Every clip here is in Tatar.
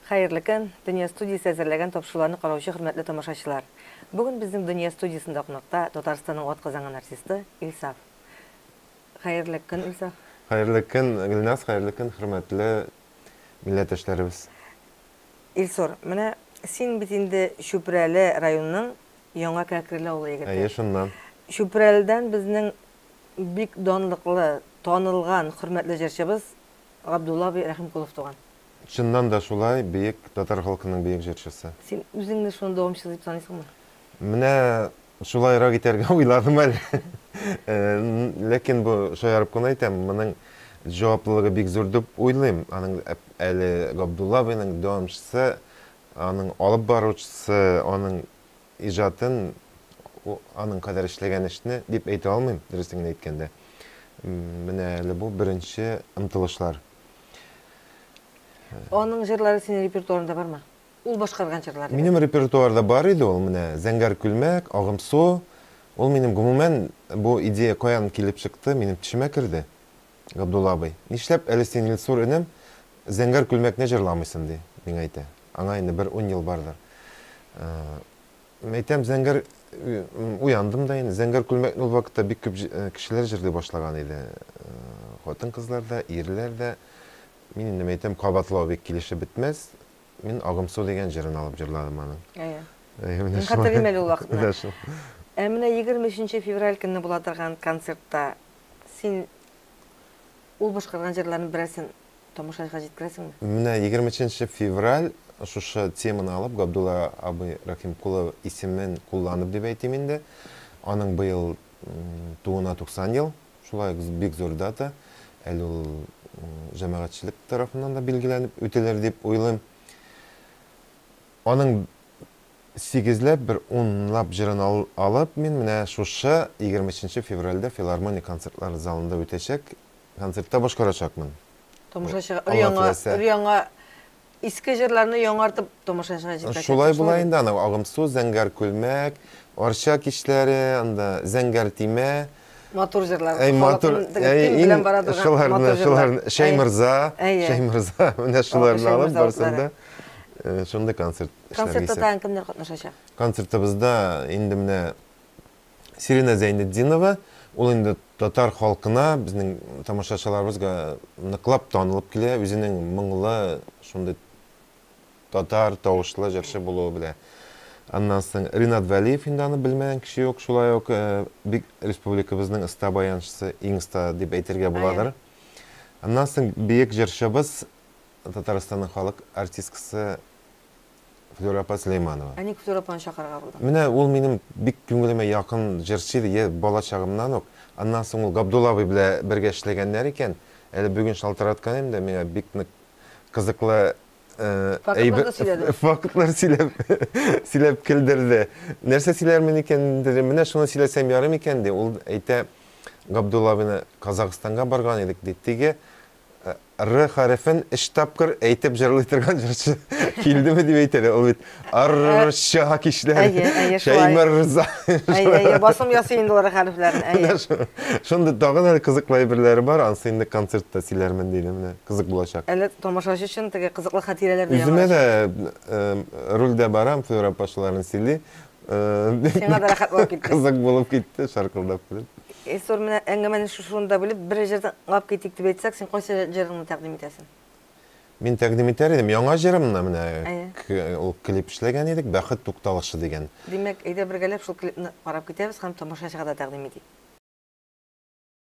Хәерле көн, Дөнья студиясе әзерләгән тапшыруларны караучы хөрмәтле тамашачылар. Бүген безнең Дөнья студиясендә кунакта Татарстанның атказанган артисты Илсаф. Хәерле көн, Илсаф. Хәерле көн, Гөлназ, хәерле көн, хөрмәтле милләттәшләребез. Илсур, менә син бит инде Чүпрәле районының Яңа Кәкреле авылы егете. Әйе, шуннан. Чүпрәледән безнең бик данлыклы, танылган, хөрмәтле җырчыбыз Габдулла абый Рәхимкулов туган. Чыннан да шулай, бөек татар халкының бөек җырчысы. Син үзеңне шуның дәвамчысы дип саныйсыңмы? Менә Шулайрак итәргә уйладым әле. Ләкин бу, шаярып кына әйтәм, моның җаваплылыгы бик зур дип уйлыйм. Аның әле Габдулла абыйның дәвамчысы, аның алып баручысы, аның иҗатын, аның кадәр эшләгән эшне дип әйтә алмыйм, дөресен генә әйткәндә. Менә әле бу беренче омтылышлар. Аның җырлары синең репертуарыңда бармы? Ул башкарган җырлар дигән. Минем репертуарда бар иде ул, менә Зәңгәр күлмәк, Агымсу. Ул минем гомумән бу идея каян килеп чыкты, минем төшемә керде. Габдулла абый, нишләп әле син, Илсур энем, Зәңгәр күлмәкне җырламыйсын, ди, миңа әйтә. Аңа инде бер ун ел бардыр. Әйтәм, Зәңгәр, уяндым да инде. Зәңгәр күлмәкне ул вакытта бик күп кешеләр җырлый башлаган иде. Хатын-кызлар да, ирләр дә. Мин инде әйтәм, кабатлау бик килешеп бетмәс. Мин Агымсу дигән җырын алып җырладым аның. Әйе. Әйе, менә шулай. Мин хәтерлим әле ул вакытны. Менә шул. Ә менә 23 февраль көнне була торган концертта син ул башкарган җырларның берәрсен тамашачыга җиткерәсеңме? Менә 23 февраль шушы теманы алып, Габдулла абый Рәхимкулов исемен кулланып дип әйтим инде, аның быел тууына 90 ел. Шулай ук бик зур дата, әле ул җәмәгатьчелек тарафыннан да билгеләнеп үтелер дип уйлыйм. Аның сигезләп, бер унлап җырын алып, мин менә шушы 23 февральдә Филармония концертлар залында үтәчәк концертта башкарачакмын. Тамаша чыга, өр-яңа, өр-яңа Иске җырларны яңартып тамашачыга җиткерәсең. Шулай була инде, анау Агымсу, Зәңгәр Күлмәк, Арча кичләре, анда Зәңгәр Тимә. Матур җырлар. Әй, матур. Әй, белән бара торган. Шуларны, шуларны. Шәймырза, Шәймырза, менә шуларны алып барсын да. Шундый концерт эшләргә исәп. Концертта тагын кемнәр катнашачак? Концертыбызда инде менә Сирина Зәйнетдинова, ул инде татар халкына, безнең тамашачыларыбызга ныклап танылып килә, үзенең моңлы, шундый татар тавышлы җырчы булуы белән. Аннан соң Ринат Вәлиев, инде аны белмәгән кеше юк, шулай ук бик республикабызның оста баянчысы, иң оста дип әйтергә буладыр. Аннан соң бөек җырчыбыз, Татарстанның халык артисткасы Флюра апа Сөләйманова. Ә ник Флюра апаны чакырырга булдың? Менә ул минем бик күңелемә якын җырчы иде, йә бала чагымнан ук. Аннан соң ул Габдулла абый белән бергә эшләгәннәр икән. Әле бүген шалтыраткан идем дә, миңа бик нык кызыклы Фактларны сөйләде. Фактлар сөйләп, сөйләп көлдерде. Нәрсә сөйләрмен икән, дидем. Менә шуны сөйләсәм ярый микән, ди. Ул әйтә, Габдулла абыйны Казахстанга барган идек, ди. Теге Р хәрефен өч тапкыр әйтеп җырлый торган җырчы килдеме дип әйт әле, ул бит Р-р-р-ча кичләр, Әйе, әйе, шулай. Шәймәррза. Әйе, әйе, басым ясый инде ул Р хәрефләрен, әйе. Менә шул. Шундый тагын әле кызыклы әйберләре бар, анысы инде концертта сөйләрмен, диде, менә кызык булачак. Әле тамашачы өчен теге кызыклы хатирәләр дә яңарачак. Үземә дә, э, рульдә барам, Флюра апа шуларны сөйли, Сиңа да рәхәт булып китте. Кызык булып китте, шаркылдап килеп. Эсор менә әңгәмәне шушында бүлеп, бер җырдан тыңлап китик дип әйтсәк, син кайсы җырыңны тәкъдим итәсең? Мин тәкъдим итәр идем яңа җырымны, менә ул клип эшләгән идек, Бәхет тукталышы дигән. Димәк, әйдә бергәләп шул клипны карап китәбез һәм тамашачыга да тәкъдим итик.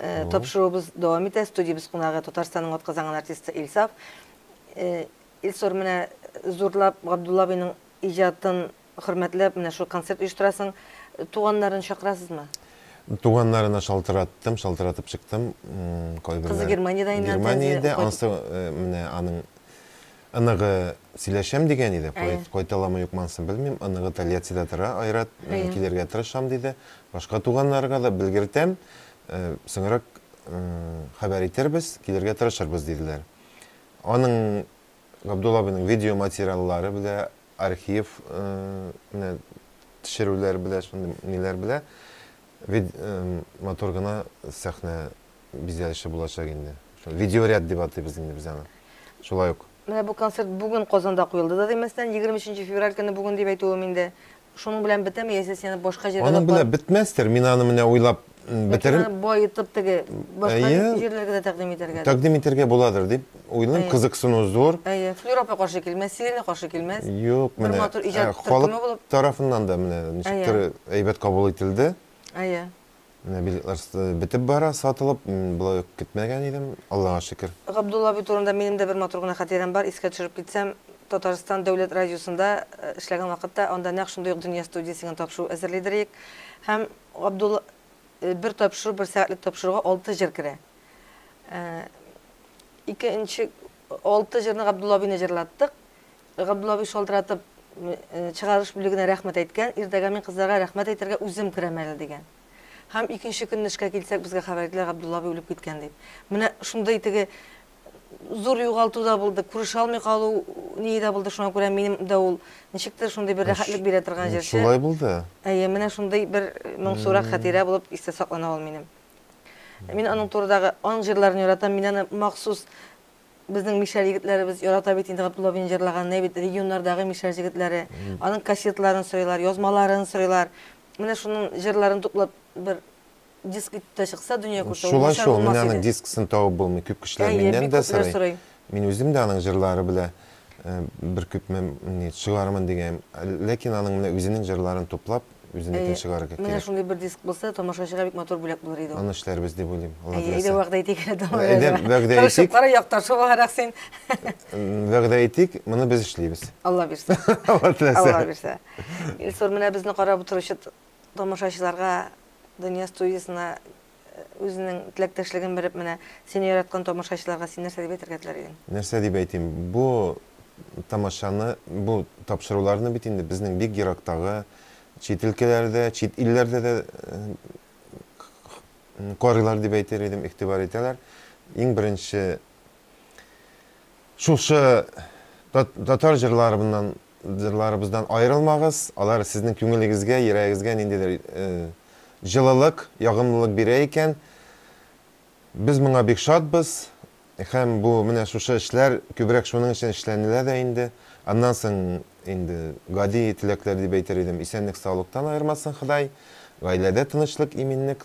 Э, тапшыруыбыз дәвам итә. Студиябез кунагы Татарстанның атказанган артисты Илсаф. Э, Илсор менә зурлап Габдулла абыйның иҗатын хөрмәтләп менә шул концерт оештырасың. Туганнарын чакырасызмы? Туганнарына шалтыраттым, шалтыратып чыктым. Кызы Германиядә инде. Германиядә, ансы э, менә аның Оныгы сөйләшәм дигән иде, кайталамы юкмансын белмим, оныгы Тольяттида тора, Айрат, мин килергә тырышам, диде. Башка туганнарга да белгертәм, соңрак хәбәр итербез, килергә тырышырбыз, диделәр. Аның, Габдулла абыйның видеоматериаллары белә, архив менә төшерүләр белә, шундый ниләр белә. Матур гына сәхнә. бизәлеше булачак инде. Шул видеоряд дип атыйбыз инде без аны. Шулай ук. Менә бу концерт бүген Казанда куелды да димәстән, 23 февраль көне бүген дип әйтүем инде. Шуның белән бетәме, яисә сине башка җиргә дә Аның белән бетмәстер, мин аны менә уйлап бетерим. Яки аны баетып теге башка җирләргә дә тәкъдим итәргә. Тәкъдим итәргә буладыр дип уйлыйм, кызыксыну зур. Әйе, Флюра апа каршы килмәс, Сирина каршы килмәс. Юк, менә. Бер матур иҗат төркеме булып. Халык тарафыннан да менә ничектер әйбәт кабул ителде. Әйе. Билетлар бетеп бара, сатылып, болай ук көтмәгән идем, Аллага шөкер. Габдулла абый турында минем дә бер матур гына хатирәм бар, искә төшереп китсәм, Татарстан дәүләт радиосында эшләгән вакытта, анда нәкъ шундый ук Дөнья студиясе дигән тапшыру әзерлидер идек һәм Габдулла бер тапшыру, бер сәгатьлек тапшыруга алты җыр керә. Икенче алты җырны Габдулла абыйны җырлаттык, Габдуллабый шалтыратып чыгарыш бүлегенә рәхмәт әйткән, иртәгә мин кызларга рәхмәт әйтергә үзем керәм әле, дигән. Һәм икенче көнне эшкә килсәк, безгә хәбәр иттеләр, Габдуллабый үлеп киткән дип. Менә шундый теге зур югалту да булды, күрешә алмый калу ние дә булды, шуңа күрә минем дә ул ничектер шундый бер рәхәтлек бирә торган җырчы. Шулай булды. Әйе, менә шундый бер моңсурак хәтирә булып истә саклана ул минем. Мин аның турыдагы аның җырларын яратам, мин аны махсус Безнең мишәр егетләребез ярата бит инде Габдулловиның җырлаган нә бит регионнардагы мишәр җегетләре. Аның кассетларын сорыйлар, язмаларын сорыйлар. Менә шуның җырларын туплап бер диск итеп тә чыкса, дөнья күрсә, ул начар булмас иде. Шулай шул, менә аның дисксын табып булмый, күп кешеләр миннән дә сорый. Мин үзем дә аның җырлары белә бер күпме чыгармын дигән, ләкин аның менә үзенең җырларын туплап, үзенекен чыгарырга кирәк. Менә шундый бер диск булса, тамашачыга бик матур бүләк булыр иде ул. Аны эшләрбез дип уйлыйм. Әйе, әйдә вәгъдә итик әле дәвам итәргә. Әйдә, вәгъдә итик. Тырышып кара, якташы буларак син. Вәгъдә итик, моны без эшлибез. Алла бирсә. Алла теләсә. Алла бирсә. Илсур, менә безне карап утыручы тамашачыларга Дөнья студиясенә үзенең теләктәшлеген биреп, менә, сине яраткан тамашачыларга син нәрсә дип әйтергә теләр идең? Нәрсә дип әйтим, бу тамашаны, бу тапшыруларны бит инде безнең бик ерактагы чит өлкәләрдә, чит илләрдә дә карыйлар дип әйтер идем, игътибар итәләр. Иң беренче шушы татар җырларыннан Җырларыбыздан аерылмагыз, алар сезнең күңелегезгә, йөрәгегезгә ниндидер җылылык, ягымлылык бирә икән, без моңа бик шатбыз һәм бу менә шушы эшләр күбрәк шуның өчен эшләнелә дә инде. Аннан соң инде гади теләкләр дип әйтер идем, исәнлек-саулыктан аермасын Ходай, гаиләдә тынычлык, иминлек,